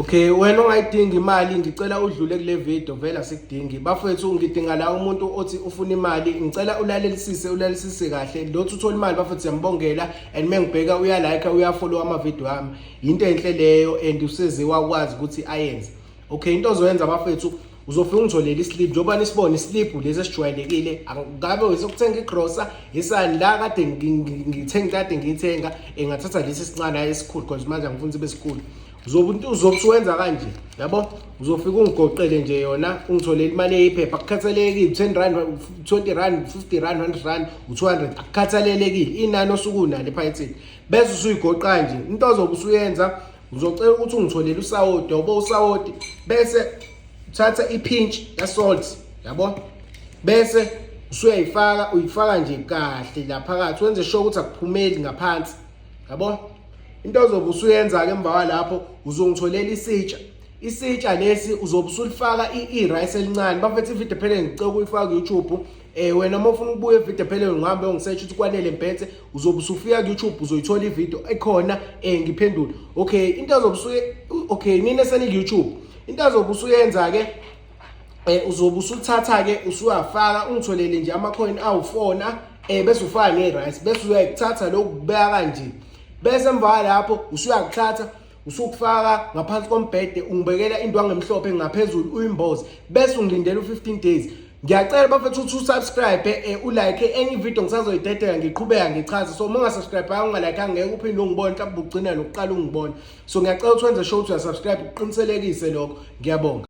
Okay wena ongayidingi imali ngicela udlule kule video vela sikudingi bafethu ngidinga la umuntu othi ufuna imali ngicela ulalelisise ulalelisise kahle lothi uthola imali bafethu siyambongela and mengibheka uya like uya follow ama video ami into enhle leyo and useze wakwazi ukuthi ayenze okay into ozoyenza bafethu uzofika ungitholele islip njengoba nisibona islip lesi esijwayelekile ngabe wesokuthenga igrocer isani la kade ngithenga kade ngiyithenga engathatha lesi sincane esikhulu because manje angifuni sibe sikhulu uzobuntu uzokusuwenza kanje yabo uzofika ungigoqele nje yona ungitholele imali eyiphepha akukhathalelekile ten rand twenty rand fifty rand hundred rand u-two hundred akukhathalelekile inani osuke unalo ephayithini bese usuyigoqa nje into ozobe usuyenza uzocela ukuthi ungitholele usawoti yobo usawoti bese uthatha iphinch yasalt yabo bese usuyayifaka uyifaka nje kahle la phakathi wenze sure ukuthi akuphumeli ngaphansi yabo into ozobe usuyenza-ke emva kwalapho uzongitholela isitsha isitsha lesi uzobe usulifaka i-rice elincane bafethu ividiyo phele ngicela ukuyifaka ku-youtube um eh, wena uma ufuna ukubuya evidiyo phele ngihambe ongisetsha ukuthi kwanele mphethe uzobe usufika ku-youtube uzoyithola ividiyo ekhona um eh, ngiphendule okay into azobe usuye okay nini eseniku-youtube into azobe usuyenza-ke eh uzobe usuthatha ke usuyafaka ungitholele nje ama coin awufona eh bese ufaka ne rice bese uyayithatha lokubeka kanje bese emva lapho usuyakuthatha usukufaka ngaphansi kombhede ungibekela indwangu emhlophe ngaphezulu uyimboze bese ungilindela u15 days ngiyacela bafethu ukuthi usubscribe eh ulike enye video ngisazoyidedela ngiqhubeka ngichaze so uma ungasubscribe ayo ungalike angeke uphinde ungibone mhlawumbe ugcina nokuqala ungibone so ngiyacela ukuthi wenze show ukuthi uyasubscribe uqiniselekise lokho ngiyabonga